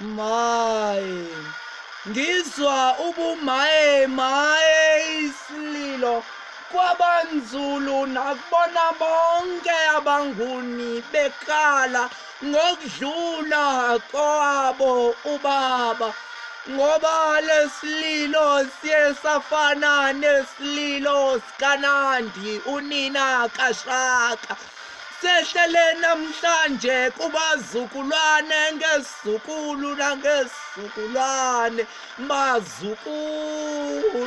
Maye. Ngizwa ubumaye maye isililo kwabanzulu nakubona bonke abanguni bekhala ngokudlula kwabo ubaba ngoba lesililo siye safana nesililo sikanandi unina kashaka sehlele namhlanje kubazukulwane ngezukulu nangezukulwane bazukulu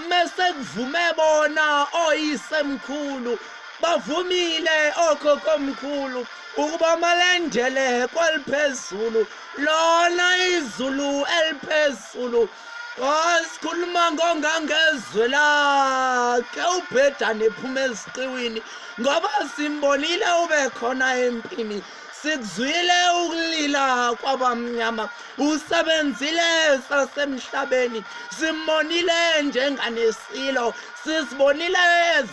mese kuvume bona oyisemkhulu bavumile okhokomkhulu ukuba malendele kweliphezulu lona izulu eliphezulu Wasikhuluma ngongangezwe lakhe ubhedane ephuma eziqiwini ngoba simbonile ube khona empini sikuzwile ukulila kwabamnyama usebenzile sasemhlabeni simonile njenganesilo sisibonile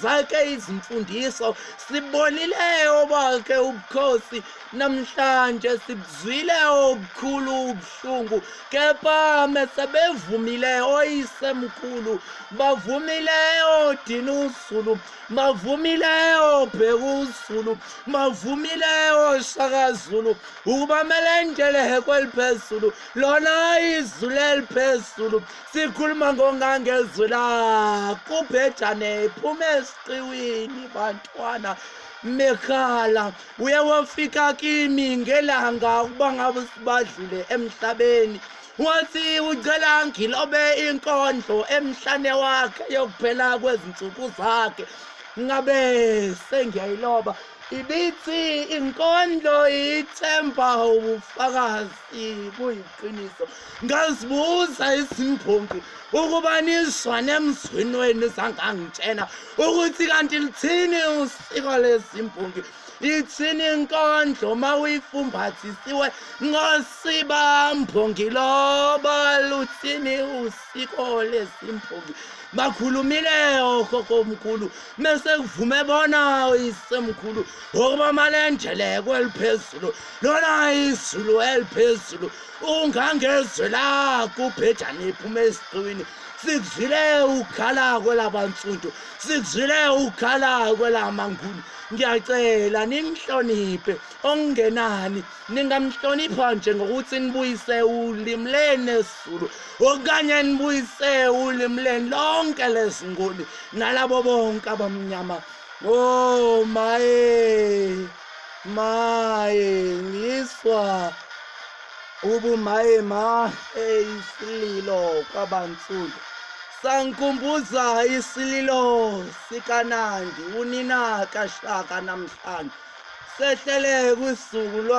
zakhe izimfundiso sibonile obakhe ubukhosi Namhlanje sibuzwile okukhulu ubuhlungu kepha mesebevumile oyisemkhulu bavumile odina uzulu bavumile obheka uzulu bavumile oshaka zulu ukuba melendele kweliphezulu lona izulu eliphezulu sikhuluma ngongangezwe la kubhejane phuma esiqiwini bantwana mekhala uye wafika kimi ngelanga ukuba ngabe sibadlule emhlabeni wathi ucela ngilobe inkondlo emhlane wakhe yokuphela kwezinsuku zakhe ngabe sengiyayiloba ibithi inkondlo ithemba ubufakazi kuyiqiniso ngazibuza izimbongi ukuba nizwa nemzwini wenu zangangitshena ukuthi kanti lithini usiko lezimbongi ithini inkondlo uma uyifumbathisiwe ngosibambongi loba luthini usiko lezimbongi bakhulumile okhokho omkhulu mese kuvume bona isemkhulu okuba malenjele kweliphezulu lona izulu eliphezulu ungangezwe la kubhejane iphuma esiqiwini sikuzwile ukukhala kwelabansundu sikuzwile ukukhala kwelamanguni ngiyacela nimhloniphe okungenani ningamhlonipha nje ngokuthi nibuyise ulimi leni esizulu okanye nibuyise ulimi leni lonke lezinguni nalabo bonke abamnyama o oh, maye maye ngiswa ubumaye ma eyisililo kwabansundu sangikhumbuza isililo sikanandi unina kashaka namhlanje sehlele kwisuku lwa